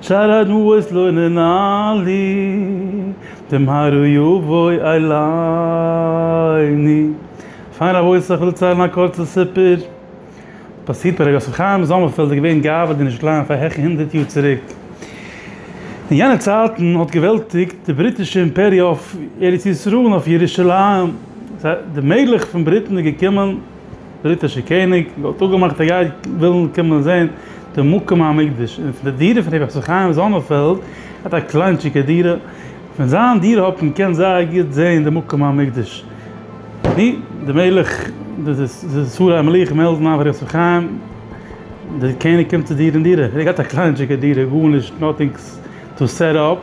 שער הדמעות לא נענה לי, דעם הר ר יבוי עליני. פיין רבותי איך וויל ציילן א קורצע סיפור, פאסירט ביי ר' יוסף חיים זאמערפעלד איז געווען גאוה די נישט קליין פאר העכער הונדערט יאר צוריק. אין יענע צייטן האט געוועלטיגט די בריטישע אימפעריע אויף ארץ ישראל און אויף ירושלים, די מלך פון בריטן איז געקומען, בריטישער קעניג האט אפגעמאכט ער גייט ווילן קומען זען די מקום המקדש און פון די דירה פון רבי חיים חיים זאמערפעלד ער האט א קליינטשיגע דירה פון זיין דירה האט מען געקענט זייער גוט זען די מקום המקדש די די מלך די שרי המלוכה מעלדן אויף רבי חיים די קעניג קומט צו דיר אין דירה ער האט א קליינטשיגע דירה גארנישט נאטינג טו סעט אפ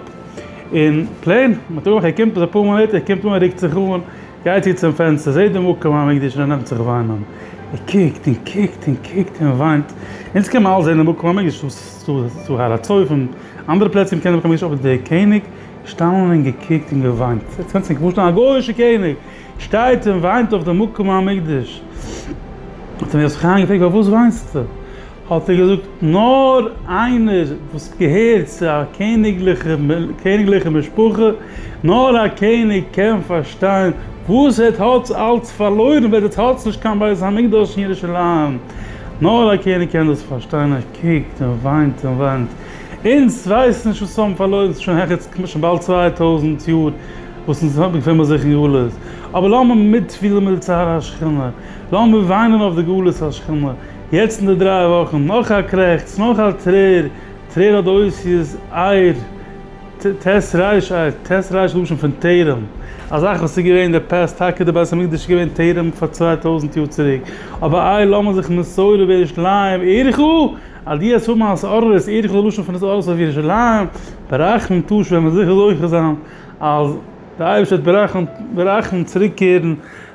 און פלעין מען האט אפגעמאכט ער קומט אפאר מאל ער קומט אן ער רוקט זיך אן. גייט איר צום פענסטער, זעט די מקום המקדש און ער נעמט זיך וויינען. ער קוקט און קוקט און קוקט און וויינט. אונז קען מען אלץ זען די מקום המקדש צו הר הצופים, אנדערע פלעצער ווי מ'קען זען מקום המקדש, אבער דער קעניג געשטאנען און געקוקט און געוויינט. איר קענט זיך נישט פארשטעלן, א גוי'אישער קעניג שטייט און וויינט אויף די מקום המקדש. האט אים יוסף חיים געפרעגט, פארוואס וויינסטו? האט ער געזאגט, נאר איינער וואס געהערט צו א קעניגליכע משפחה, נאר א קעניג קען פארשטיין וואס ער האט אלץ פארלוירן ווען עס האט נישט קיין בית המקדש אין ירושלים, נאר א קעניג קען דאס פארשטיין, ער קוקט און וויינט און וויינט, אונז ווייסן נישט וואס האבן פארלוירן שוין העכערס כמעט שוין באלד צוויי טויזנט יאר וואס אונז געפינען זיך אין גלות, אבער לאמיר מיטפילן מיט די צער השכינה, לאמיר וויינען אויף די גלות השכינה. יעצט אין די דריי וואכן, נאך א קרעכץ, נאך א טרער, טרער האט די אותיות אייר, ט, ט, ס, ר, אייר, ט, ס, ר, לשון פון טרם, א זאך וואס איז געווען די פאסט, טאקע די בית המקדש איז געווען טרם פאר צוויי טויזנט יאר צוריק, אבער אייר לאמיר זיך מסורה ווען ירושלים עירך, על די עס האבן אז ארור איז עירך די לשון פון עס ארור אויף ירושלים, ברחמים תשוב ווען מען זיכער זוכה זיין אז די אייבערשטער וועט ברחמים צוריק קערן